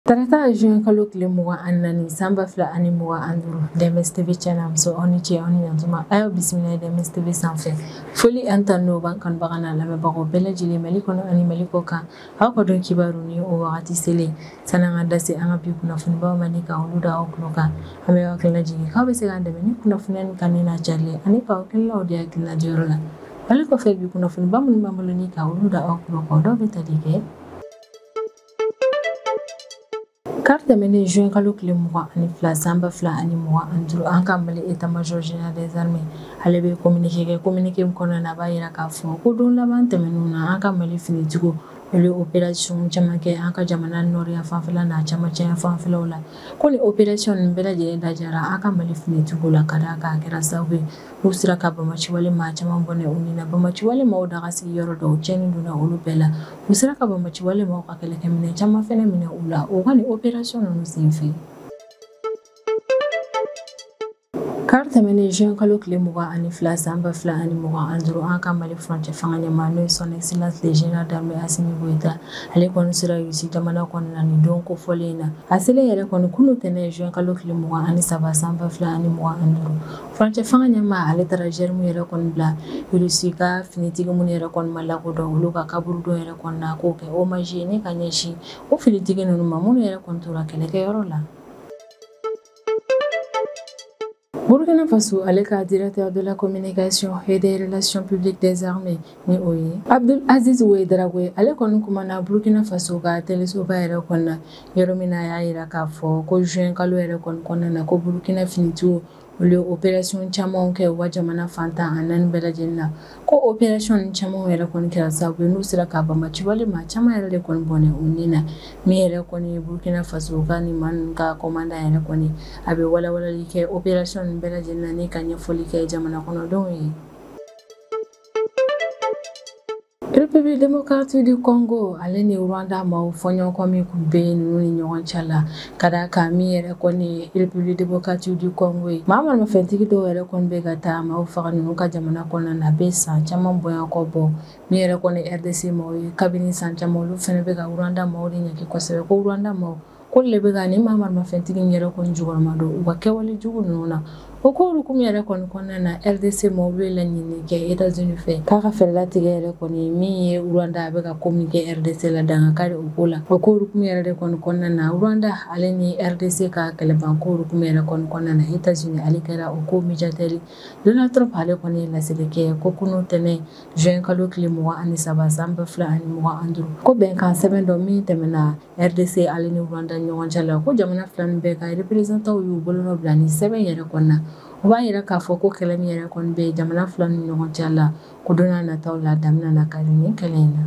Tarata juin kalo tile mugan ani naani san ba fila ani mugan ani duuru DMS TV cɛ ni muso aw ni ce aw ni ɲantuma a y'aw bisimila ye DMS TV sanfɛ foli ani tanu n'o b'an kanubaga n'a lamɛnbagaw bɛɛ lajɛlen Mali kɔnɔ ani Mali kɔ kan aw ka don kibaru ni o wagati selen sani an ka da se an ka bi kunnafonibaw ma ni ka olu da aw tulo kan an bɛ aw hakilila jigin k'aw bɛ se k'an dɛmɛ ni kunnafoniya ni kanuni n'a carilen ani ka aw hakililaw di hakilila diyɔrɔ la ale kɔfɛ bi kunnafoniba minnu b'an bolo ni ka olu da aw tulo kan dɔw bɛ tali kɛ kari tɛmɛnen juin kalo tile mugan ani fila san ba fila ani mugan ani duuru an ka mali état major général des armées ale bɛ communiqué kɛ communiqué min kɔnɔna na a b'a yira k'a fɔ ko don laban tɛmɛnenw na an ka mali finitigiw olu ye opération caman kɛ an ka jamana nɔriya fanfɛla n'a camancɛya fanfɛlaw la ko nin opération nin bɛɛ lajɛlen dadiyara an ka mali finitigiw la ka d'a kan a kɛra sababu ye N'u sera ka banbaanci wale maa caman bɔnɛ u ni na banbaanci wale maaw daga sigi yɔrɔ dɔw cɛnni donna olu bɛɛ la u sera ka banbaanci wale maaw ka kɛlɛkɛminɛn caman fana minɛ u la o ka nin opération ninnu senfɛ kari tɛmɛnen juin kalo tile mugan ani fila san ba fila ani mugan ani duuru an ka mali furancɛ fanga ɲɛmaa n'o ye son excellence le général d'armée Assimi Goïta ale kɔni sera Russie jamana kɔnɔna nin don kofɔlen in na a selen yɛrɛ kɔni kunun ntɛnɛn juin kalo tile mugan ani saba san ba fila ani mugan ani duuru Furancɛ fanga ɲɛmaa ale taara gerbe yɛrɛ kɔni bila Russie ka finitigi minnu yɛrɛ kɔni ma lakodɔn olu ka kaburudo yɛrɛ kɔni na k'o kɛ hommage ye ni ka ɲɛsin o finitigi ninnu ma minnu yɛrɛ kɔni tora kɛlɛkɛyɔrɔ la. Burkina Faso ale ka directeur de la communication et des relations publiques des armées ni o ye Abdul Aziz Ouedraogo ale kɔni kumana Burkina Faso ka telesoba yɛrɛ kɔnɔna yɔrɔ min na a y'a jira k'a fɔ ko juin kalo yɛrɛ kɔni kɔnɔna na ko Burkina finitigiw olu ye opération camanw kɛ u ka jamana fan tan ani naani bɛɛ lajɛlen na, ko opération ninnu camanw yɛrɛ kɔni kɛra sababu ye n'u sera ka banbaanci wale maa caman yɛrɛ de kɔni bɔnɛ u ni na min yɛrɛ kɔni ye Burkina Faso ka nin maa ninnu ka commandant yɛrɛ kɔni a bɛ walawalali kɛ opération ninnu bɛɛ lajɛlen na ni ka ɲɛfɔli kɛ jamana kɔnɔdenw ye. République démocratique du Congo ale ni Rwanda maaw fɔɲɔgɔnkɔ min tun bɛ ninnu ni ɲɔgɔn cɛ la ka d'a kan min yɛrɛ kɔni ye République démocratique du Congo ye maa maramafɛntigi dɔw yɛrɛ kɔni bɛ ka taa maaw faga ninnu ka jamana kɔnɔna na a bɛ san caman bonya kɔ bɔ min yɛrɛ kɔni ye RDC maaw ye kabini san caman olu fana bɛ ka Rwanda maaw de ɲangi kosɛbɛ ko Rwanda maaw ko le bɛ ka ni maa maramafɛntigi yɛrɛ kɔni jukɔrɔma don u ka kɛwale jugu ninnu na o ko hukumu yɛrɛ kɔni kɔnɔna na RDC maaw bɛ laɲini kɛ États-Unis fɛ k'a ka fɛɛrɛ latigɛ yɛrɛ kɔni min ye Rwanda a bɛ ka ko min kɛ RDC la dan kari o ko la o ko hukumu yɛrɛ de kɔni kɔnɔna na Rwanda ale ni RDC ka kɛlɛbanko hukumu yɛrɛ kɔni kɔnɔna na États-Unis ale kɛra o ko médiateur Donald Trump ale kɔni ye laseli kɛ ko kunun tɛnɛn juin kalo tile mugan ani saba san ba fila ani mugan ani duuru ko bɛnkan sɛbɛn dɔ min tɛmɛna RDC ale ni Rwanda ni ɲɔgɔn cɛ la ko jamana fila nin bɛɛ ka représentants w y'u bolonɔ bila ni sɛbɛn yɛrɛ kɔni na o b'a yira k'a fɔ ko kɛlɛ min yɛrɛ kɔni bɛ jamana fila ni ɲɔgɔn cɛ la ko don n'a nataw la dan bɛna na kari nin kɛlɛ in na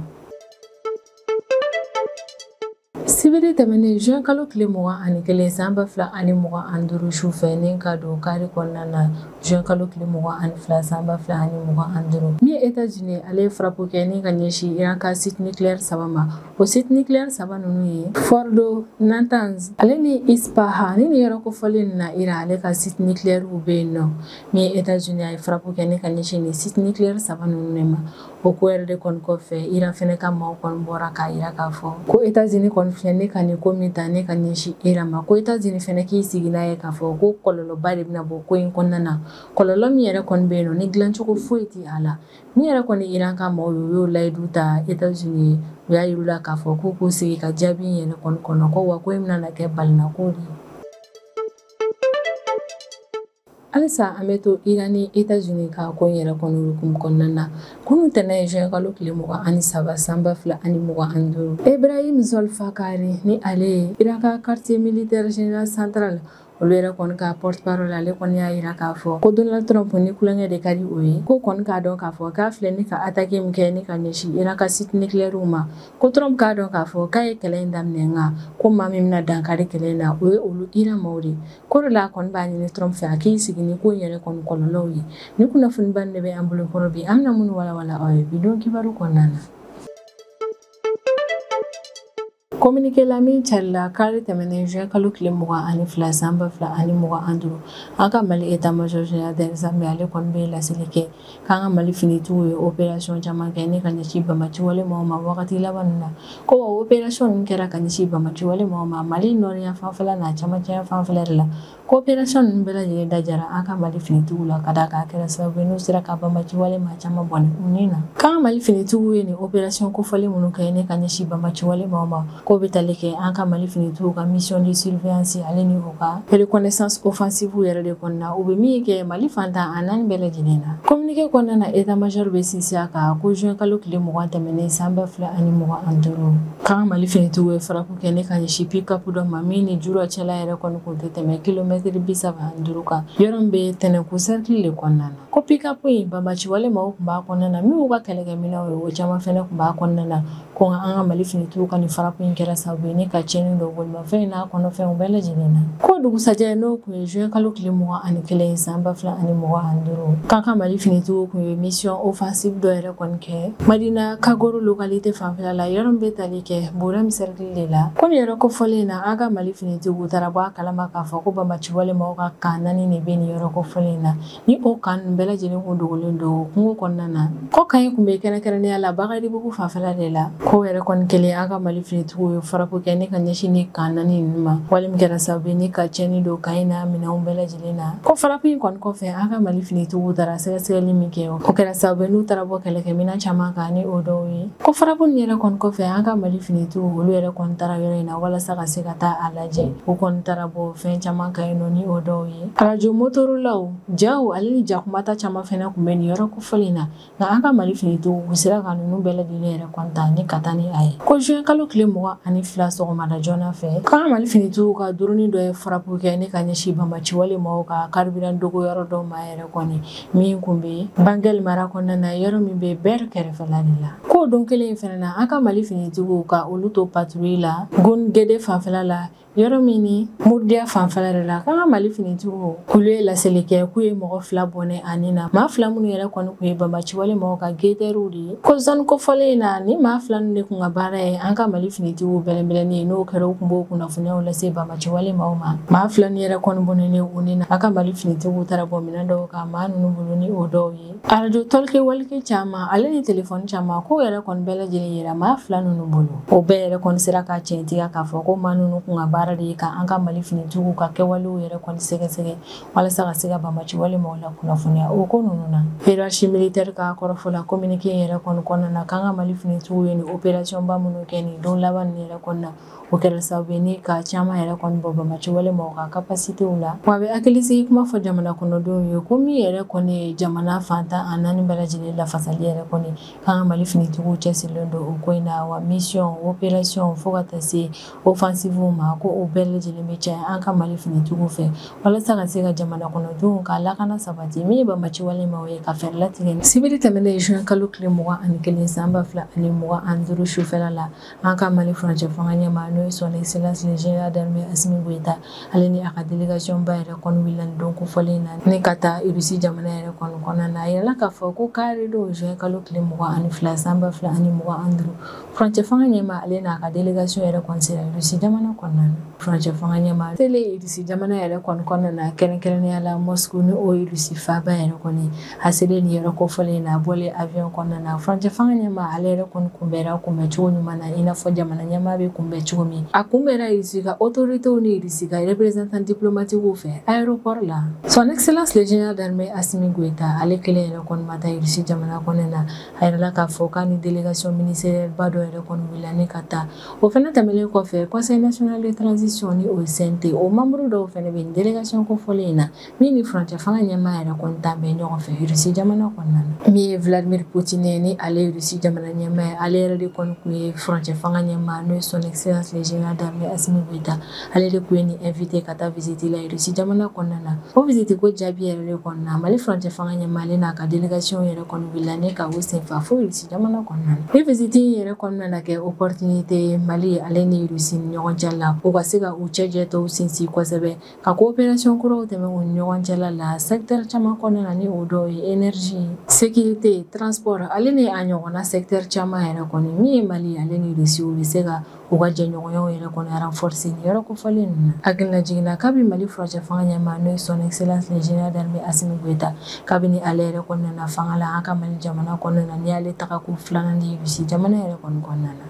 sibiri tɛmɛnen juin kalo tile mugan ani kelen san ba fila ani mugan ani duuru su fɛ ni ka don kari kɔnɔna na juin kalo tile mugan ani fila san ba fila ani mugan ani duuru min ye États-Unis ale ye frappe kɛ ni ka ɲɛsin Iran ka site nucléaire saba ma O site nucléaire saba ninnu ye Fordo, Natanz, ale ni Ispahan ni nin yɔrɔ kofɔlen nin na Iran ale ka site nucléaire bɛ yen nɔ min ye États-Unis a ye frappe kɛ ni ka ɲɛsin nin site nucléaire saba ninnu de ma o ko yɛrɛ de kɔni kɔfɛ Iran fɛnɛ ka maaw kɔni bɔra k'a yira k'a fɔ ko États-Unis kɔni filɛ ni ka nin ko min ta ni ka ɲɛsin Iran ma ko États-Unis fɛnɛ k'i sigi n'a ye k'a fɔ ko kɔlɔlɔba de bɛna bɔ ko in kɔnɔna na kɔlɔlɔ min yɛrɛ kɔni bɛ yen nɔ ni dilancogo foyi tɛ a la Min yɛrɛ kɔni Iran ka maaw ye u y'o layidu ta États-Unis ye u y'a yir'u la k'a fɔ k'u k'u sigi ka jaabi yɛrɛ kɔni kɔnɔ ko wa ko in bɛna kɛ balinako de ye halisa an bɛ to Iran ni États-Unis ka ko in yɛrɛ kɔni hukumu kɔnɔna na kunun tɛnɛn ye juin kalo tile mugan ani saba san ba fila ani mugan ani duuru Ibrahim Zolfakari ni ale ye Iran ka quartier militaire général central olu yɛrɛ kɔni ka porte parole ale kɔni y'a yira k'a fɔ ko Donald Trump ni tulonkɛ de ka di o ye k'o kɔni k'a dɔn k'a fɔ k'a filɛ ni ka attaque min kɛ ni ka ɲɛsin Iran ka site nucléaire ma ko Trump k'a dɔn k'a fɔ k'a ye kɛlɛ in daminɛ nka ko maa min bɛna dankari kɛlɛ in na o ye olu Iran maaw de ko de la a kɔni b'a ɲini Trump fɛ a k'i sigi ni ko in yɛrɛ kɔni kɔlɔlɔw ye ni kunnafoniba nin de bɛ an bolo kɔrɔ bi an bɛna minnu walawala aw ye bi don kibaru kɔnɔna na Kominike la min carila kari tɛmɛnen juin kalo tile mugan ani fila san ba fila ani mugan ani duuru an ka Mali état major général des armées ale kɔni bɛ laseli kɛ k'an ka Mali finitigiw ye opération caman kɛ ni ka ɲɛsin banbaaciwale maaw ma wagati laban ninnu na ko wa opération ninnu kɛra ka ɲɛsin banbaaciwale maaw ma Mali nɔriyanfanfɛla n'a camancɛyanfanfɛla de la Ko opération ninnu bɛɛ lajɛlen da jara an ka Mali finitigiw la ka d'a kan a kɛra sababu ye n'u sera ka banbaciwale maa caman bɔnɛ u ni na. K'an ka Mali finitigiw ye nin opération kofɔlen minnu kɛ ni ka ɲɛsin banbaciwale maaw ma, k'o bɛ tali kɛ an ka Mali finitigiw ka mission de surveillance ale ni u ka reconnaissance offensive yɛrɛ de kɔnɔna na, u bɛ min kɛ Mali fan tan ni naani bɛɛ lajɛlen na. Communiqué kɔnɔna na état major bɛ sinsin a kan ko juin kalo tile mugan tɛmɛnen san ba fila ani mugan ani duuru, k'an ka Mali finitigiw ye fara Kɛ ni ka ɲɛsin pick-up dɔ ma min ni jura cɛla yɛrɛ kɔni kun tɛ tɛmɛ kilomɛtiri bi saba duuru kan yɔrɔ bɛ tɛnɛnku sɛrikili de kɔnɔna na ko pick-up in banbaciwale maaw kun b'a kɔnɔna na min y'u ka kɛlɛkɛminɛnw ye o caman fɛnɛ kun b'a kɔnɔna na ko an ka mali finitigiw ka nin farapu in kɛra sababu ye ni ka tiɲɛni don bolimafɛn in n'a kɔnɔfɛnw bɛɛ lajɛlen na ko dugusajɛ n'o kun ye juin kalo tile mugan ani kelen san ba fila ani mugan ani duuru k'an ka mali finitigiw kun ye misiyɔn ofansifu dɔ yɛrɛ kɔni kɛ madina kagoro lokalite fanfɛla la yɔrɔ bɛ tali kɛ burɛm sɛrikili de la komi yɔrɔ kofɔlen na an ka mali finitigiw taara bɔ a kalama k'a fɔ ko bamaciwale mɔgɔw ka kan naani de bɛ nin yɔrɔ kofɔlen na ni o kan ninnu bɛɛ lajɛlen kun dogolen don kungo kɔnɔna na ko kan in kun bɛ kɛrɛnkɛrɛnnenya la bagadibugu fanfɛla de la k'o yɛrɛ kɔni kɛlen an ka mali finitigiw ye farapu kɛ ni ka ɲɛsin ni kan naani ninnu ma wale min kɛra sababu ye ni ka tiɲɛni don kan in n'a minɛnw bɛɛ lajɛlen Ko farapu in kɔni kɔfɛ an ka mali finitigiw taara sɛgɛsɛgɛli min kɛ o kɛra sababu ye n'u taara bɔ kɛlɛkɛminɛn caman kan ni o dɔw ye ko farapu in yɛrɛ kɔni kɔfɛ an ka mali finitigiw olu yɛrɛ kɔni taara yɔrɔ in na walasa ka se ka taa a lajɛ u kɔni taara bɔ fɛn caman kan yen nɔ ni o dɔw ye arajo motorolaw jaw ale ni jakumata caman fɛnɛ kun bɛ nin yɔrɔ kofɔlen na nka an ka mali finitigiw u sera ka ninnu bɛɛ lajɛlen yɛrɛ kɔni ta ni ka taa ni a ye ko juin kalo tile mugan ani fila sɔgɔmada joona fɛ k'an ka mali finitigiw ka dɔrɔni dɔ ye farapu kɛ ni ka ɲɛsin bamaciwale mɔgɔw ka kariburan dogo yɔrɔ dɔ ma yɛrɛ kɔni min kun be bangɛli mara kɔnɔna na yɔrɔ min be bɛr kɛrɛfɛla de la k'o don kelen in fɛnɛ na an ka mali finitigiw k'olu to patrouille la gungede fanfɛla la yɔrɔ min ni murdiya fanfɛla de la k'an ka mali finitigiw k'olu ye laseli kɛ k'u ye mɔgɔ fila bɔnɛ a ni na maa fila minnu yɛrɛ kɔni kun ye banbaciwale maaw ka gɛtɛriw de ye ko zoni kofɔlen in na ni maa fila ninnu de kun ka baara ye an ka mali finitigiw bɛlɛnbɛlɛni ye n'o kɛra u kun b'o kunnafoniyaw lase banbaciwale maaw ma maa fila ninnu yɛrɛ kɔni bɔnɛnen u ni na an ka mali finitigiw taara bɔ minɛn dɔw kan maa ninnu bolo ni o dɔw ye Arajo tɔlki walki caman ale ni telefɔni caman k'o yɛrɛ kɔni bɛɛ lajɛlen yera maa fila ninnu bolo o bɛɛ yɛrɛ kɔni sera ka tiɲɛtigiya k'a fɔ ko maa ninnu kun ka baara de ye ka an ka mali finitigiw ka kɛwalew yɛrɛ kɔni sɛgɛsɛgɛ walasa ka se ka bamaciwale maaw la kunnafoniya o ko ninnu na hiérarchie militaire ka kɔrɔfɔ la kominike yɛrɛ kɔni kɔnɔna na k'an ka mali finitigiw ye ni operasiyɔnba minnu kɛ nin don laban nin yɛrɛ kɔnɔna na o kɛra sababu ye ni ka caman yɛrɛ kɔni bɔ bamaciwale mɔgɔw ka kapasitew la wa a bɛ hakilisigi kuma fɔ jamana kɔnɔdenw ye ko min yɛrɛ kɔni ye jamana fan tan ni naani bɛɛ lajɛlen lafasali yɛrɛ kɔni k'an ka mali finitigiw cɛsirilen don o ko in na wa misiyɔn operasiyɔn fo ka taa se ofansifuw ma ko o bɛɛ lajɛlen bɛ caya an ka mali finitigiw fɛ walasa ka se ka jamana kɔnɔdenw ka lakana sabati min ye bamaciwale maaw ye ka fɛɛrɛ latigɛ sibiri tɛmɛnen juin kalo tile mugan ani kelen san ba fila ani mugan ani duuru sufɛla la an ka mali furancɛ fanga ɲɛmaa n'o ye son excellence le général d'armée assimi goïta ale ni a ka délégation ba yɛrɛ kɔni wulila nin don kofɔlen na ni ka taa irisi jamana yɛrɛ kɔni kɔnɔna na a yirala k'a fɔ ko kari don juin kalo tile mugan ani fila san ba fila ani mugan ani duuru furancɛ fanga ɲɛmaa ale n'a ka délégation yɛrɛ kɔni sera irisi jamana kɔnɔna na furancɛ fanga ɲɛmaa selen irisi jamana yɛrɛ kɔni kɔnɔna na kɛrɛnkɛrɛnnenya la moscou ni o ye irisi faaba yɛrɛ kɔni A selen nin yɔrɔ kofɔlen in na, a bɔlen avion kɔnɔna na, furancɛ fanga ɲɛmaa ale yɛrɛ kɔni kunbɛra kunbɛn cogo ɲuman na, i n'a fɔ jamana ɲɛmaa bɛ kunbɛn cogo min. A kunbɛra Russie ka autorités ni Russie ka représentants diplomatiques fɛ aéroport la. Son Excellence le Général d'armée Assimi Goïta ale kelen yɛrɛ kɔni ma taa Russie jamana kɔnɔna na, a yirala k'a fɔ k'a ni délégation ministérielle ba dɔ yɛrɛ kɔni wulila ni ka taa. O fana tɛmɛnen kɔfɛ, Conseil national de transition ni o ye CNT o membres dɔw fana bɛ nin délégation kofɔlen in na. min ni furancɛ fanga ɲɛmaa yɛrɛ kɔni taa bɛ ɲɔgɔn fɛ irisi jamana kɔnɔna na min ye vladimir putin ni ale ye irisi jamana ɲɛmaa ye ale yɛrɛ de kɔni tun ye furancɛ fanga ɲɛmaa n'o ye son excellence le général d'armée assimi goïta ale de tun ye nin invité ka taa visite la irisi jamana kɔnɔna na o visite ko jaabi yɛrɛ de kɔnɔna na mali furancɛ fanga ɲɛmaa ale n'a ka délégation yɛrɛ kɔni wulila ni ka o senfa fo irisi jamana kɔnɔna na nin visite in yɛrɛ kɔni nana kɛ opportunité ye mali ale ni irisi ni ɲɔgɔn cɛ la u ka se ka u cɛjɛ tɔw sinsin kosɛbɛ Ka coopération kuraw tɛmɛ u ni ɲɔgɔn cɛ la secteur caman kɔnɔna na ni o dɔ ye énergie sécurité transport ale ni a ɲɔgɔnna secteur caman yɛrɛ kɔni min ye mali ale ni irisi u bɛ se ka u ka jɛɲɔgɔnyaw yɛrɛ kɔni renforcer nin yɔrɔ kofɔlen ninnu na hakilina jigin na kabi mali furancɛ fanga ɲɛmaa n'o ye son excellence le général d'armée assimi goïta kabini ale yɛrɛ kɔni nana fanga la an ka mali jamana kɔnɔna na nin y'ale taga ko filanan de ye irisi jamana yɛrɛ kɔnɔna na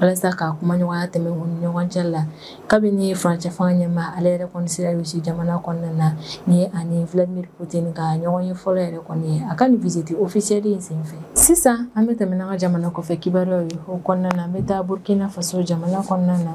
walasa ka kumaɲɔgɔnya tɛmɛ u ni ɲɔgɔn cɛ la kabini furancɛ fanga ɲɛmaa ale yɛrɛ kɔni sera rusi jamana kɔnɔna na nin ye a ni vladimir putin ka ɲɔgɔn ye fɔlɔ yɛrɛ kɔni ye a ka nin visite ofisiyɛli in senfɛ sisan an bɛ tɛmɛ n'an ka jamana kɔfɛ kibaruyaw ye o kɔnɔna na an bɛ taa burkina faso jamana kɔnɔna na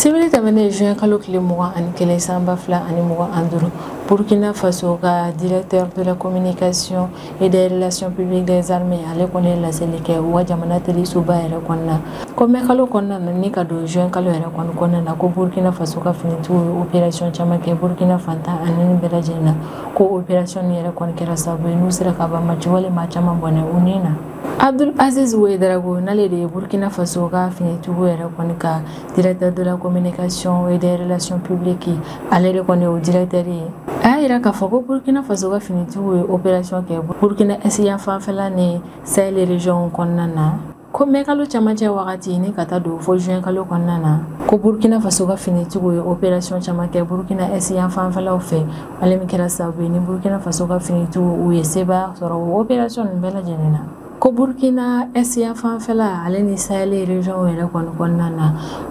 sibiri tɛmɛnen juin kalo tile mugan ani kelen san ba fila ani mugan an duuru burkina faso ka directeur de la communication et des relations publiques des armées ale kɔni ye laseli kɛ u ka jamana telesoba yɛrɛ kɔnɔna ko mɛ kalo kɔnɔna na ni ka don juin kalo yɛrɛ kɔni kɔnɔna na ko burkina faso ka finitigiw ye opération caman kɛ burkina fan tan ni naani bɛɛ lajɛlen na ko opération nin yɛrɛ kɔni kɛra sababu ye n'u sera ka banbaanci wale maa caman bɔnɛ u ni na Abdul Aziz Ouedraogo n'ale de ye Burkina Faso ka finitigiw yɛrɛ kɔni ka directeur de la communication et des relations publiques ale de kɔni y'o directeur ye a y'a jira k'a fɔ ko Burkina Faso ka finitigiw ye opération kɛ Burkina Est yan fanfɛla ni Sahel région kɔnɔna na ko mɛ kalo camancɛ wagati ni ka taa don fo juin kalo kɔnɔna na ko burkina faso ka finitigiw ye opération caman kɛ burkina est yan fanfɛlaw fɛ ale min kɛra sababu ye ni burukina faso ka finitigiw u ye sebaya sɔrɔ o operasiyɔn nin bɛɛ lajɛlen na ko burkina est yan fanfɛla ale ni sahɛli regionw yɛrɛ kɔni kɔnɔna na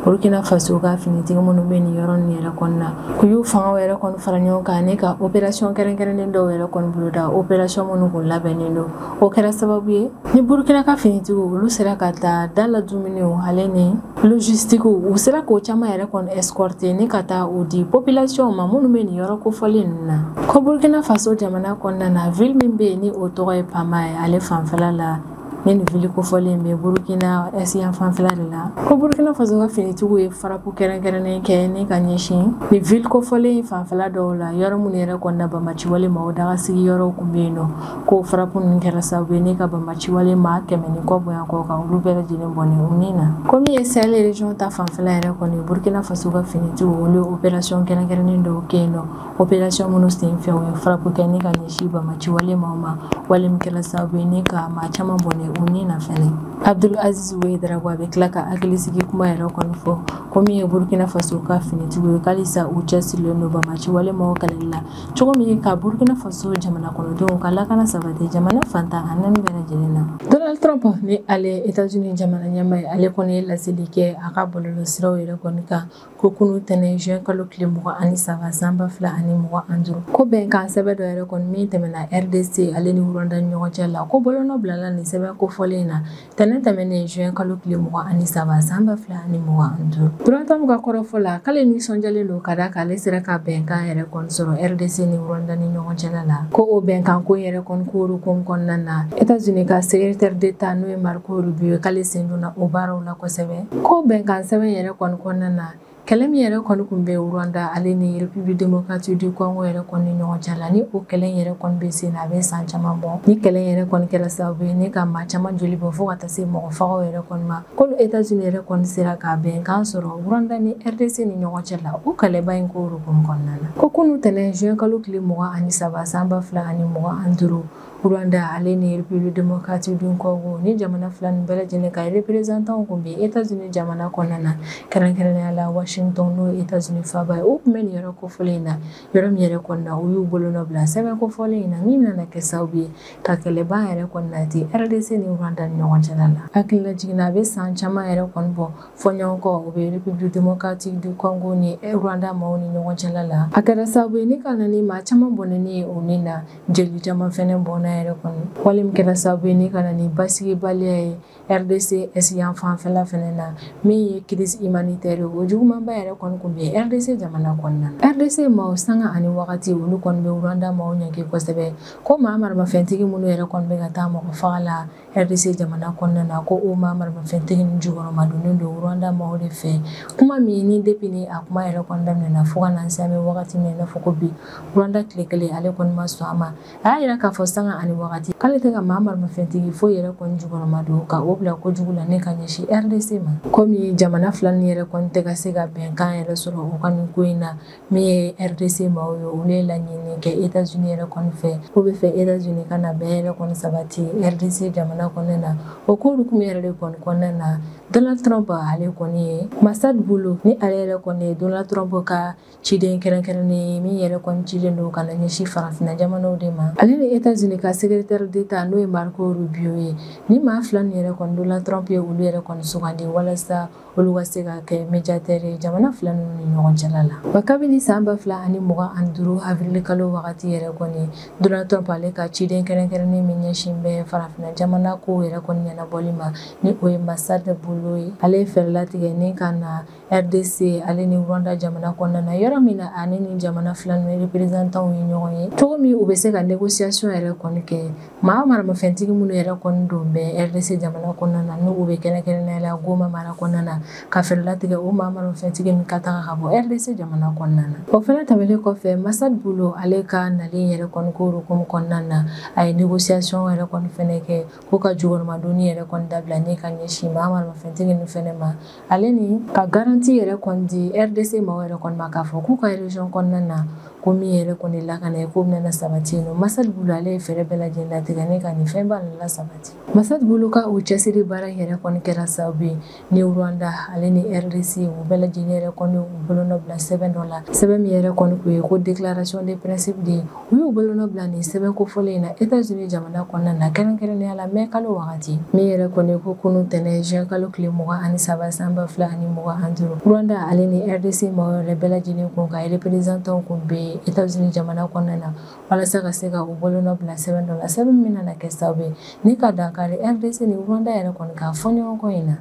burkina faso ka finitigi minnu bɛ nin yɔrɔ nin yɛrɛ kɔnɔna u y'u fangaw yɛrɛ kɔni fara ɲɔgɔn kan ni ka operasiyɔn kɛrɛnkɛrɛnnen dɔw yɛrɛ kɔni boloda operasiyɔn minnu kun labɛnnen don o kɛra sababu ye ni burukina ka finitigiw olu sera ka taa da la dumuniw ale ni logistique u sera k'o caman yɛrɛ kɔni escorter ni ka taa o di population ma minnu bɛ nin yɔrɔ kofɔlen ninnu na ko burkina faso jamana kɔnɔna na ville min bɛ yen ni o tɔgɔ ye pama ye ale fanfɛla la ni nin ville kofɔlen bɛ burukina est yan fanfɛla de la ko burukina faso ka finitigiw ye farapu kɛrɛnkɛrɛnnen kɛ ni ka ɲɛsin nin ville kofɔlen fanfɛla dɔw la yɔrɔ minnu yɛrɛ kɔnɔna banbaciwale maw dagasigi yɔrɔw kun bɛ yen nɔ ko farapu ninnu kɛra sababu ye ni ka banbaciwale maa kɛmɛ ni kɔ bonya kɔ kan olu bɛɛ lajɛlen bɔnɛ u ni na ko min ye sahel region ta fanfɛla yɛrɛ kɔni burkina faso ka finitigiw olu ye opération kɛrɛnkɛrɛnnen dɔw kɛ yen nɔ opération minnu sen fɛ u ye farapu kɛ ni ka ɲɛsin banbaciwale maw ma wale min kɛra sababu ye ni ka maa caman bɔnɛ u ni na fɛnɛ abdul aziz ouedraogo a bɛ tila ka hakilisigi kuma yɛrɛ kɔni fɔ ko min ye burkina faso ka finitigiw ye k'alisa u cɛsirilen don banbaciwale maw kɛlɛli la cogo min ka burkina faso jamana kɔnɔdenw ka lakana sabati jamana fan tan ani naani bɛɛ lajɛlen na donald trump ni ale etats-unis jamana ɲɛmaa ye ale kɔni ye laseli kɛ a ka bɔlɔlɔ siraw yɛrɛ kɔni kan ko kunu tɛnɛn juin kalo tile mugan ani saba san ba fila ani mugan ani duuru ko bɛnkan sɛbɛn dɔ yɛrɛ kɔni min tɛmɛna rdc ale ni rwanda ni ɲɔgɔn cɛ la ko bolonɔ bilala nin sɛbɛn kofɔlen na Tɛnɛn tɛmɛnen juin kalo tile mugan ani saba san ba fila ani mugan ani duuru, Donald Trump ka kɔrɔfɔ la, k'ale nisɔndiyalen don ka d'a kan ale sera ka bɛnkan yɛrɛ kɔni sɔrɔ RDC ni Rwanda ni ɲɔgɔn cɛla la, ko o bɛnkan ko in yɛrɛ kɔni ko hokumu kɔnɔna na, Etats-Unis ka secretaire d'Etat n'o ye Marco Rubio ye, k'ale sen donna o baaraw la kosɛbɛ, ko bɛnkansɛbɛn in yɛrɛ kɔni kɔnɔna na, Kɛlɛ min yɛrɛ kɔni kun bɛ Rwanda ale ni République démocratique du Congo yɛrɛ kɔni ni ɲɔgɔn cɛ la, ni o kɛlɛ in yɛrɛ kɔni bɛ sen na, a bɛ san caman bɔ. Ni kɛlɛ in yɛrɛ kɔni kɛra sababu ye ni ka maa caman joli bɔ fo ka taa se mɔgɔ fagaw yɛrɛ kɔni ma. Kunu Etats Unis yɛrɛ kɔni sera ka bɛnkan sɔrɔ Rwanda ni RDC ni ɲɔgɔn cɛ la, o kɛlɛba in ko hokumu kɔnɔna na. Ko kunu tɛnɛn juin kalo tile mugan ani saba san ba fila ani mugan ani duuru, Rwanda ale ni République démocratique du Congo ni jamana fila nin bɛɛ lajɛlen ka représentant kun bɛ Etats-Unis jamana kɔnɔna na kɛrɛnkɛrɛnnenya la Washington n'o ye Etats-Unis faaba ye u tun bɛ nin yɔrɔ kofɔlen in na yɔrɔ min yɛrɛ kɔnɔna u y'u bolonɔ bila sɛbɛn kofɔlen in na min nana kɛ sababu ye ka kɛlɛban yɛrɛ kɔni nati RDC ni Rwanda ni ɲɔgɔn cɛla la hakilila jiginna a bɛ san caman yɛrɛ kɔni bɔ fɔɲɔgɔnkɔ o bɛ République démocratique du Congo ni Rwanda maaw ni ɲɔgɔn cɛla la a kɛra sababu ye ni ka na ni maa caman bɔnɛni ye u ni na jeli caman fɛnɛ bɔnna yɛrɛ kɔni wale min kɛra sababu ye ni ka na ni basigibaliya ye rdc yan fanfɛla fɛnɛ na min ye crise humanitaire o jugumanba yɛrɛ kɔni kun bɛ rdc jamana kɔnɔna na rdc maaw sanga ani wagati olu kɔni bɛ rwanda maaw ɲɛge kosɛbɛ ko maa maramafɛntigi minnu yɛrɛ kɔni bɛ ka taa mɔgɔ faga la Rdc jamana kɔnɔna na ko o maa maramafɛntigi nin jukɔrɔma donnen don rwanda maaw de fɛ kuma min ni depuis a kuma yɛrɛ kɔni daminɛna fo ka na se an bɛ wagati min na fɔ ko bi rwanda tile kelen ale kɔni ma sɔn a ma a y'a jira k'a fɔ sanga ani wagati k'ale tɛ ka maa maramafɛntigi foyi yɛrɛ kɔni jukɔrɔma don ka o bila kojugu la ni ka ɲɛsin rdc ma kɔmi jamana fila ni yɛrɛ kɔni tɛ ka se ka bɛnkan yɛrɛ sɔrɔ u ka nin ko in na min ye rdc maaw ye olu ye laɲini kɛ etats unis yɛrɛ kɔni fɛ k'u b'a fɛ etats unis ka na bɛn yɛrɛ kɔni sabati rdc jamana kɔnɔna na o ko hukumu yɛrɛ de kɔni kɔnɔna na donald trump ale kɔni ye massad boulos ni ale yɛrɛ kɔni ye donald trump ka ciden kɛrɛnkɛrɛnnen ye min yɛrɛ kɔni cilen don ka na ɲɛsin farafina jamanaw de ma ale ni etats unis ka secrétaire d'état n'o ye marco rubio ye ni maa fila nin yɛrɛ kɔni donald trump ye olu yɛrɛ kɔni sugandi walasa olu ka se ka kɛ médiateur ye jamana fila ninnu ni ɲɔgɔn cɛla la wa kabini san ba fila ani mugan ani duuru avril kalo wagati yɛrɛ kɔni donald trump ale ka ciden kɛrɛnkɛrɛnnen min ɲɛsin bɛ farafina jamana kow yɛrɛ kɔni ɲɛnabɔli ma ni o ye massad boulos ye ale ye fɛɛrɛ latigɛ ni ka na rdc ale ni rwanda jamana kɔnɔna na yɔrɔ min na ani ni jamana fila ninnu representanw ye ɲɔgɔn ye cogo min u bɛ se ka négociation yɛrɛ kɔni kɛ Maa maramafɛntigi minnu yɛrɛ kɔni don bɛ rdc jamana kɔnɔna na n'u bɛ kɛrɛnkɛrɛnnenya la goma mara kɔnɔna na ka fɛɛrɛ latigɛ o maa maramafɛntigi nin ka taga ka bɔ rdc jamana kɔnɔna na o fɛnɛ tɛmɛnen kɔfɛ massad boulos ale ka nalen yɛrɛ kɔni ko hukumu kɔnɔna na a ye négociation yɛrɛ kɔni fɛnɛ kɛ ko ka jukɔrɔmadonni yɛrɛ kɔni dabila ni ka ɲɛsin maa maramafɛntigi ninnu fɛnɛ ma ale ni ka garanti yɛrɛ kɔni di rdc maaw yɛrɛ kɔni ma k'a fɔ k'u ka région kɔnɔna na ko min yɛrɛ kɔni lakana ye ko bɛna sabati yen nɔ Massad Boulos ale ye fɛɛrɛ bɛɛ lajɛlen latigɛ ni ka nin fɛnba ninnu lasabati Massad Boulos ka o cɛsiri baara yɛrɛ kɔni kɛra sababu ye ni Rwanda ale ni RDC u bɛɛ lajɛlen yɛrɛ kɔni u bolonɔ bila sɛbɛn dɔ la sɛbɛn min yɛrɛ kɔni kun ye ko déclaration de principe de ye U y'u bolonɔ bila nin sɛbɛn kofɔlen in na Etats-Unis jamana kɔnɔna na kɛrɛnkɛrɛnnenya la mai kalo wagati min yɛrɛ kɔni ko kunun tɛnɛn juin kalo tile mugan ani saba san ba fila ani mugan ani duuru Rwanda ale ni RDC mɔgɔ yɛrɛ bɛɛ lajɛlen kun ka reprezantanw kun bɛ Etats-Unis jamana kɔnɔna na walasa ka se ka u bolonɔ bila sɛbɛn dɔ la sɛbɛn min nana kɛ sababu ye ni ka dankari RDC ni Rwanda yɛrɛ kɔni ka fɔɲɔgɔnkɔ in na.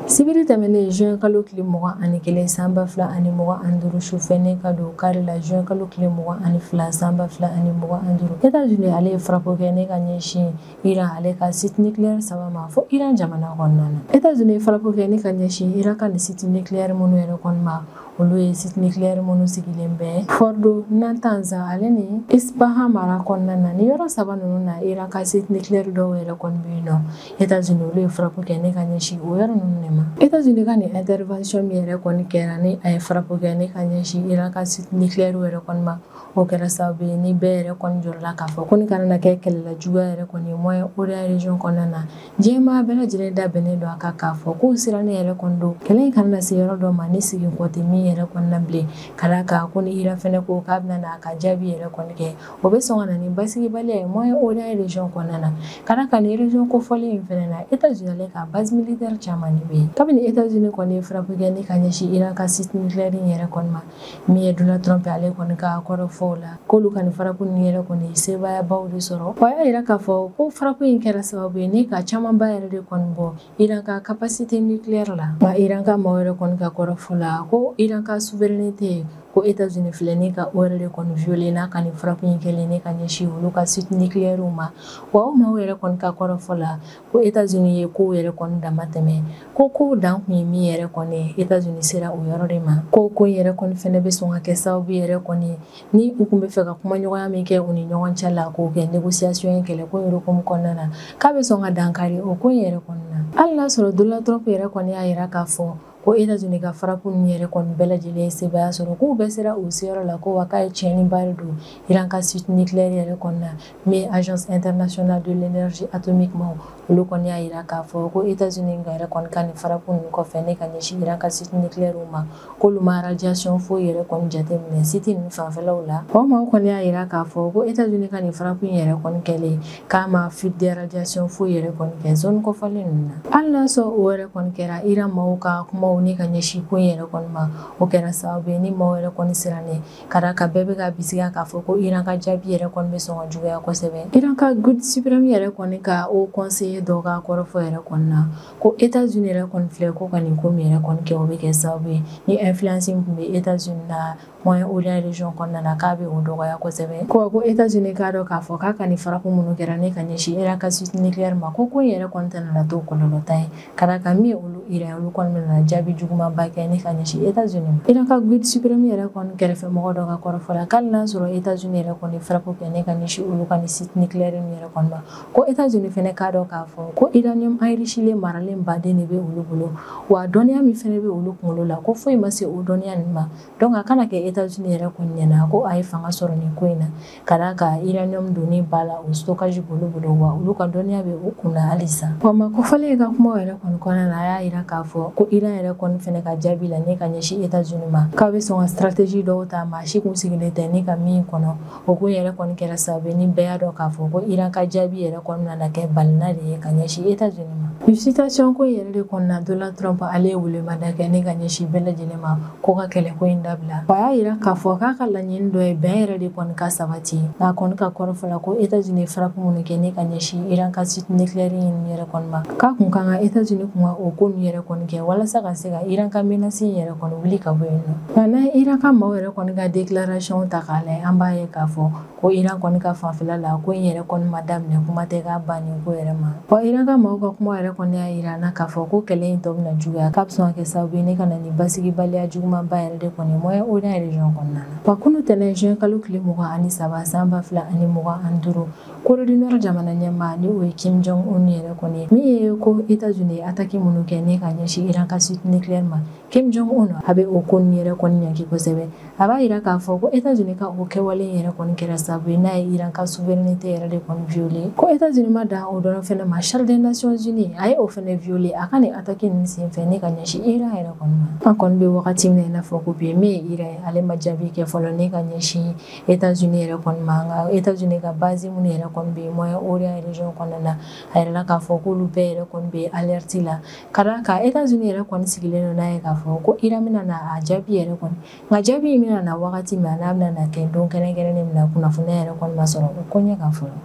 sibiri tɛmɛnen juin kalo tile mugan ani kelen san ba fila ani mugan ani duuru sufɛ ne ka don kari la juin kalo tile mugan ani fila san ba fila ani mugan ani duuru etats unis ale ye frappe kɛ ne ka ɲɛsin iran ale ka site nucléaire saba ma fo iran jamana kɔnɔna na etats unis ye frappe kɛ ne ka ɲɛsin iran ka ni site nucléaire minnu yɛrɛ kɔni ma olu ye site nucléaire minnu sigilen bɛ fordo natanz ale ni ispahan mara kɔnɔna na ni yɔrɔ saba ninnu na iran ka site nucléaire dɔw yɛrɛ kɔni bɛ yen nɔ États-Unis olu ye frappe kɛ ne ka ɲɛsin o yɔrɔ ninnu de ma États-Unis ka nin intervention min yɛrɛ kɔni kɛra ni a ye frappe kɛ ne ka ɲɛsin Iran ka site nucléaire yɛrɛ kɔni ma o kɛra sababu ye ni bɛɛ yɛrɛ kɔni jɔrɔla k'a fɔ ko nin kana na kɛ kɛlɛlajuguya yɛrɛ kɔni ye Moyen-Orient région kɔnɔna na diɲɛ maa bɛɛ lajɛlen da bɛnnen don a kan k'a fɔ k'u sirannen yɛrɛ kɔni don kɛlɛ in kana na se yɔrɔ dɔ ma ni segin kɔ tɛ min yɛrɛ kɔni na bilen ka d'a kan ko ni Iran fɛnɛ ko k'a bɛna na a ka jaabi yɛrɛ kɔni kɛ o bɛ sɔn ka na ni basigibaliya ye Moyen Orient region kɔnɔna na ka d'a kan nin region kofɔlen in fɛnɛ na Etats Unis ale ka base militaire caman de bɛ yen kabini Etats Unis kɔni ye frappe kɛ ni ka ɲɛsin Iran ka site nucléaire in yɛrɛ kɔni ma min ye Donald Trump ale kɔni ka kɔrɔfɔ la k'olu ka nin frappe ninnu yɛrɛ kɔni ye sebaayaba de sɔrɔ o y'a yira k'a fɔ ko frappe in kɛra sababu ye ni ka camanba yɛrɛ de kɔni bɔ Iran ka capacité nucléaire la wa Iran ka maaw yɛrɛ kɔni ka kɔrɔfɔ la ko Iran ka souveraineté ko Etats-Unis filɛ ne ka o yɛrɛ de kɔni violer n'a ka nin frappe in kɛlen ne ka ɲɛsin olu ka site nucléaire ma wa o maaw yɛrɛ kɔni ka kɔrɔfɔ la ko Etats-Unis ye kow yɛrɛ kɔni dama tɛmɛ ko kow dan kun ye min yɛrɛ kɔni ye Etats-Unis sera o yɔrɔ de ma ko ko in yɛrɛ kɔni fɛnɛ bɛ sɔn ka kɛ sababu yɛrɛ kɔni Ni u kun bɛ fɛ ka kumaɲɔgɔnya min kɛ u ni ɲɔgɔn cɛ la k'o kɛ négociation ye kɛlɛko in hukumu kɔnɔna na, k'a bɛ sɔn ka dankari o ko in yɛrɛ kɔni na. Hali n'a sɔrɔ Donald Trump yɛrɛ kɔni y'a yira k'a fɔ ko Etats-Unis ka frappe ninnu yɛrɛ kɔni bɛɛ lajɛlen ye sebaaya sɔrɔ k'u bɛɛ sera u seyɔrɔ la ko wa k'a ye tiɲɛniba de don Iran ka site nucléaire yɛrɛ kɔni na. min ye agence internationale de l'énergie atomique ma olu kɔni y'a yira k'a fɔ ko états-unis ka yɛrɛ kɔni ka nin frappe ninnu kɔfɛ ne ka ɲɛsin iran ka site nucléaire ma k'olu ma radiation foyi yɛrɛ kɔni jateminɛ site ninnu fanfɛlaw la o maaw kɔni y'a yira k'a fɔ ko états-unis ka nin frappe in yɛrɛ kɔni kɛlen k'a ma fuite de radiation foyi yɛrɛ kɔni kɛ zone kofɔlen ninnu na hali n'a sɔrɔ o yɛrɛ kɔni kɛra iran maaw ka kumaw ne ka ɲɛsin ko in yɛrɛ kɔni ma o kɛra sababu ye ni maaw yɛrɛ kɔni sirannen Ka d'a kan bɛɛ bɛ ka bisigiya k'a fɔ ko Iran ka jaabi yɛrɛ kɔni bɛ sɔn ka juguya kosɛbɛ. Iran ka Guide supreme yɛrɛ kɔni ka haut conseiller dɔ ka kɔrɔfɔ yɛrɛ kɔni na, ko Etats Unis yɛrɛ kɔni filɛ ko ka nin ko min yɛrɛ kɔni kɛ, o bɛ kɛ sababu ye ni influence min tun bɛ Etats Unis na Moyen Orient region kɔnɔna na, k'a bɛ o dɔgɔya kosɛbɛ. Ko ko Etats Unis k'a dɔn k'a fɔ k'a ka nin frappe minnu kɛra ni ka ɲɛsin Iran ka site nucleaire ma, ko ko in yɛrɛ kɔni tɛna na to kɔlɔlɔtan ye. Ka d'a kan min ye olu Iran ye olu kɔni nana jaabi jugumanba kɛ ni ka ɲɛsin Etats-Unis ma. Iran ka guide supreme yɛrɛ kɔni kɛrɛfɛmɔgɔ dɔ ka kɔrɔfɔ la k'ali n'a sɔrɔ Etats-Unis yɛrɛ kɔni ye frappe kɛ ni ka ɲɛsin olu ka nin site nucléaire ninnu yɛrɛ kɔni ma, ko Etats-Unis fɛnɛ k'a dɔn k'a fɔ ko uranium enrichilen maralen baden de bɛ olu bolo, wa dɔnniya min fɛnɛ bɛ olu kunkolo la ko foyi ma se o dɔnniya ninnu ma, donc a kana kɛ Etats-Unis yɛrɛ kɔni ɲɛna ko a ye fanga sɔrɔ nin ko in na. Ka d'a kan uranium donni ba la o stockage b'olu bolo wa olu ka dɔnniya bɛ u kun na halisa. Wa maa kofɔlen ka kumaw yɛrɛ kɔni kɔnɔna na a y'a yira k'a fɔ ko Iran yɛrɛ kɔni fɛnɛ ka jaabi la ni ka ɲɛsin Etats-Unis ma k'a bɛ sɔn ka stratégie dɔw ta maa si kun sigilen tɛ ni ka min kɔnɔ o kun yɛrɛ kɔni kɛra sababu ye ni bɛɛ y'a dɔn k'a fɔ ko Iran ka jaabi yɛrɛ kɔni nana kɛ balina de ye ka ɲɛsin Etats-Unis ma. Nin situation ko in yɛrɛ de kɔnɔna Donald Trump ale ye welemada kɛ ni ka ɲɛsin bɛɛ lajɛlen ma ko ka kɛlɛko in dabila a y'a yira k'a fɔ k'a ka laɲini dɔ ye bɛn yɛrɛ de kɔni ka sabati a kɔni ka kɔrɔfɔ la ko Etats-Unis ye frappe minnu kɛ ne ka ɲɛsin iran ka site nucléaire in yɛrɛ kɔni ma k'a kun ka kan Etats-Unis kun ka o ko ninnu yɛrɛ kɔni kɛ walasa ka se ka iran ka menace in yɛrɛ kɔni wuli ka bɔ yen nɔ nka n'an ye iran ka maaw yɛrɛ kɔni ka déclaration ta k'a lajɛ an b'a ye k'a fɔ ko Iran kɔni ka fanfɛla la ko in yɛrɛ kɔni ma daminɛ kuma tɛ k'a bannen ko yɛrɛ ma wa Iran ka maaw ka kuma yɛrɛ kɔni y'a yira an na k'a fɔ ko kɛlɛ in tɔ bɛna juguya k'a bɛ sɔn ka kɛ sababu ye ne ka na ni basigibaliya jugumanba yɛrɛ de kɔni ye Moyen Orient région kɔnɔna na wa kunu tɛnɛn juin kalo tile mugan ani saba san ba fila ani mugan ani duuru Corée du Nord jamana ɲɛmaa ni o ye Kim Jong Un yɛrɛ kɔni ye min ye ko Etats-Unis ye attaque minnu kɛ ni ka ɲɛsin Iran ka site nucléaire ma Kim Jong Un a bɛ o ko ninnu yɛrɛ kɔni ɲanki kosɛbɛ a b'a yira k'a fɔ ko États-Unis ka o kɛwale in yɛrɛ kɔni kɛra sababu ye n'a ye Iran ka souveraineté yɛrɛ de kɔni violer ko États-Unis ma dan o dɔrɔn fɛnɛ ma Charte des Nations Unies a ye o fɛnɛ violer a ka nin attaque ninnu senfɛ ni ka ɲɛsin Iran yɛrɛ kɔni ma an kɔni bɛ wagati min na i n'a fɔ ko bi min ye Iran ye ale ma jaabi kɛ fɔlɔ ni ka ɲɛsin États-Unis yɛrɛ kɔni ma nka États-Unis ka base minnu yɛrɛ kɔni bɛ Moyen-Orient région kɔnɔna na a yirala k'a fɔ k'olu bɛɛ yɛrɛ kɔni bɛ alerte la ka d'a kan États-Unis yɛrɛ kɔni sigilen don n'a ye k'a fɔ ko Iran bɛna na a jaabi yɛrɛ kɔni nka jaabi in bɛna na wagati min an'a bɛna na kɛ don kɛrɛnkɛrɛnnen min na kunnafoniya yɛrɛ kɔni ma sɔrɔ o ko ɲɛ kan fɔlɔ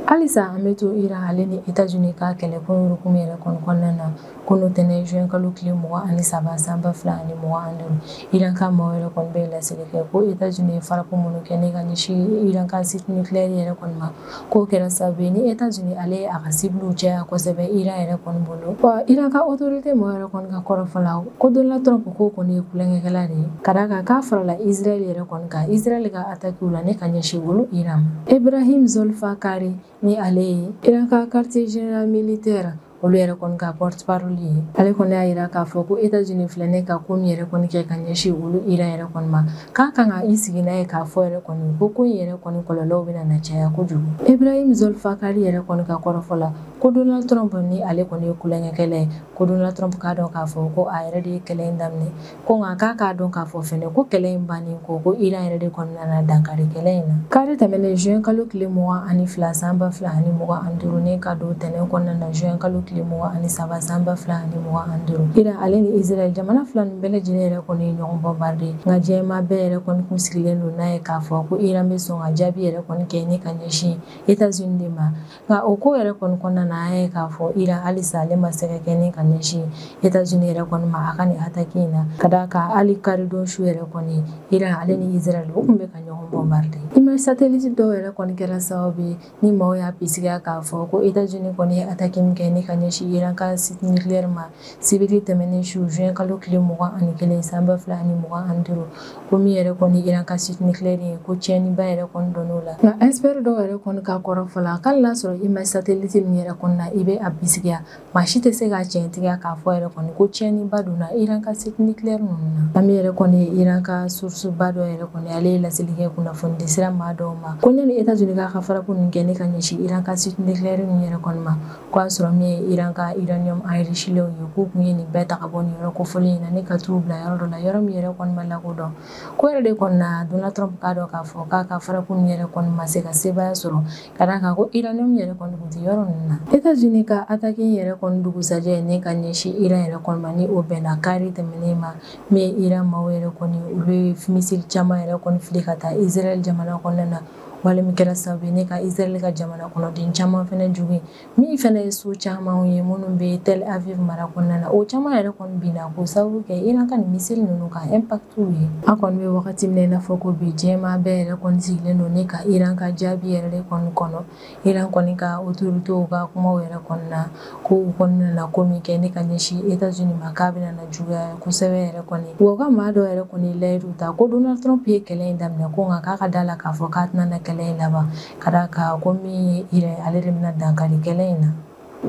halisa an bɛ to Iran ale ni États-Unis ka kɛlɛko hukumu yɛrɛ kɔni kɔnɔna na kunu tɛnɛn juin kalo tile mugan ani saba san ba fila ani mugan ani duuru Iran ka maaw yɛrɛ kɔni bɛ laseli kɛ ko États-Unis ye frappe minnu kɛ ni ka ɲɛsin Iran ka site nucléaire yɛrɛ kɔni ma K'o kɛra sababu ye ni Etats-Unis ale ye a ka cibles caya kosɛbɛ Iran yɛrɛ kɔni bolo, wa Iran ka autorité mɔgɔ yɛrɛ kɔni ka kɔrɔfɔ la, ko Donald Trump k'o kɔni ye tulonkɛkɛla de ye, ka d'a kan k'a farala Israël yɛrɛ kɔni kan Israël ka attaques la ni ka ɲɛsin olu Iran ma. Ebrahim Zolfaghari ni ale ye Iran ka quartier général militaire olu yɛrɛ kɔni ka porte parole ye ale kɔni y'a yira k'a fɔ ko états unis filɛ ne ka ko min yɛrɛ kɔni kɛ ka ɲɛsin olu iran yɛrɛ kɔni ma k'a kan ka i sigi n'a ye k'a fɔ yɛrɛ kɔni ko ko in yɛrɛ kɔni kɔlɔlɔw bɛna na caya kojugu ibrahim zolfakari yɛrɛ kɔni ka kɔrɔfɔ la ko donald trump ni ale kɔni ye kulonkɛkɛla ye ko donald trump k'a dɔn k'a fɔ ko a yɛrɛ de ye kɛlɛ in daminɛ ko nka k'a k'a dɔn k'a fɔ fɛnɛ ko kɛlɛ in bannen kɔ ko iran yɛrɛ de kɔni nana dankari kɛlɛ in na kari tɛmɛnen juin kalo tile mugan ani fila san ba fila ani mugan ani duuru ne ka don tɛnɛn kɔnɔna na juin kalo tile mugan ani saba san ba fila ani mugan ani duuru iran ale ni israel jamana fila nin bɛɛ lajɛlen yɛrɛ kɔni ye ɲɔgɔn bombarder nka diɲɛmaa bɛɛ yɛrɛ kɔni kun sigilen don n'a ye k'a fɔ ko iran bɛ sɔn ka jaabi yɛrɛ kɔni kɛ ne ka ɲɛsin etats unis de ma nka o ko yɛrɛ kɔni kɔnɔna na an ye k'a fɔ iran halisa ale ma se ka kɛ ni ka ɲɛsin etazini yɛrɛ kɔni ma a ka nin ataki in na ka d'a kan hali karidon su yɛrɛ kɔni iran ale ni israɛl u kun bɛ ka ɲɔgɔn bombarder image satellite dɔw yɛrɛ kɔni kɛra sababu ye ni maaw y'a bisigiya k'a fɔ ko etazini kɔni ye ataki min kɛ ni ka ɲɛsin iran ka site nucleaire ma sibiri tɛmɛnen su juin kalo tile mugan ani kelen san ba fila ani mugan ani duuru ko min yɛrɛ kɔni iran ka site nucléaire ye ko tiɲɛniba yɛrɛ kɔni donn'o la nka expert dɔw yɛrɛ kɔni ka kɔrɔfɔ la k'ali n'a sɔrɔ image satellite min yɛrɛ kɔni na i bɛ a bisigiya maa si tɛ se k'a tiɲɛtigiya k'a fɔ yɛrɛ kɔni ko tiɲɛniba donna iran ka site nucléaire ninnu na a min yɛrɛ kɔni ye iran ka sourceba dɔ yɛrɛ kɔni ale ye laseli kɛ kunnafonidi sira maa dɔw ma ko ɲani etats unis k'a ka frappe ninnu kɛ ne ka ɲɛsin iran ka site nucléaire ninnu yɛrɛ kɔni ma k'a sɔrɔ min ye iran ka uranium enrichilenw ye k'u tun ye nin bɛɛ ta ka bɔ nin yɔrɔ kofɔlen in na ni ka t'u bila yɔrɔ dɔ la yɔrɔ min yɛrɛ kɔni ma lakodɔn ko yɛrɛ de kɔni na donald trump k'a dɔn k'a fɔ k'a ka frappe ninnu yɛrɛ kɔni ma se ka sebaya sɔrɔ ka d'a kan ko uranium yɛrɛ kɔni tun tɛ yɔrɔ ninnu na etats unis ka ataki in yɛrɛ kɔni dugusajɛ ni ka ɲɛsin iran yɛrɛ kɔni ma ni o bɛnna kari tɛmɛnen ma min ye iran maaw yɛrɛ kɔni olu ye missile caman yɛrɛ kɔni fili ka taa israel jamana kɔnɔna na wale min kɛra sababu ye ne ka Israɛl ka jamana kɔnɔden caman fɛnɛ jogin min fɛnɛ ye so camanw ye minnu bɛ Tel Aviv mara kɔnɔna na o caman yɛrɛ kɔni binna k'o sababu kɛ Iran ka nin missile ninnu ka impact ye an kɔni bɛ wagati min na i n'a fɔ ko bi diɲɛmaa bɛɛ yɛrɛ kɔni sigilen don ne ka Iran ka jaabi yɛrɛ de kɔni kɔnɔ Iran kɔni ka autoritéw ka kumaw yɛrɛ kɔni na, ko u kɔni nana ko min kɛ ni ka ɲɛsin Etats Unis ma k'a bɛna na juguya kosɛbɛ yɛrɛ kɔni. Wa u ka maa dɔ yɛrɛ kɔni ye layidu ta ko Donald Trump ye kɛlɛ in daminɛ ko nka k'a ka d'a la k'a fɔ k'a tɛna na kɛlɛ in laban, ka d'a kan ko min ye Iran ye ale de bɛna dankari kɛlɛ in na.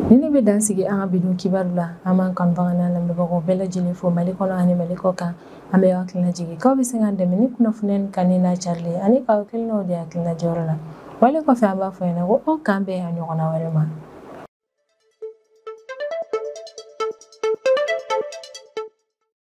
nin de bɛ dan sigi an ka bidon kibaru la an b'an kanubagaw n'an lamɛnbagaw bɛɛ lajɛlen fo mali kɔnɔ ani mali kɔkan an b'aw hakili lajigin k'aw bɛ se k'an dɛmɛ ni kunnafoni nin kanuni n'a carili ani k'aw hakilinaw di hakilina diyɔrɔ la wale kɔfɛ an b'a fɔ ɲɛna ko aw k'an bɛn a ɲɔgɔnna wɛrɛ ma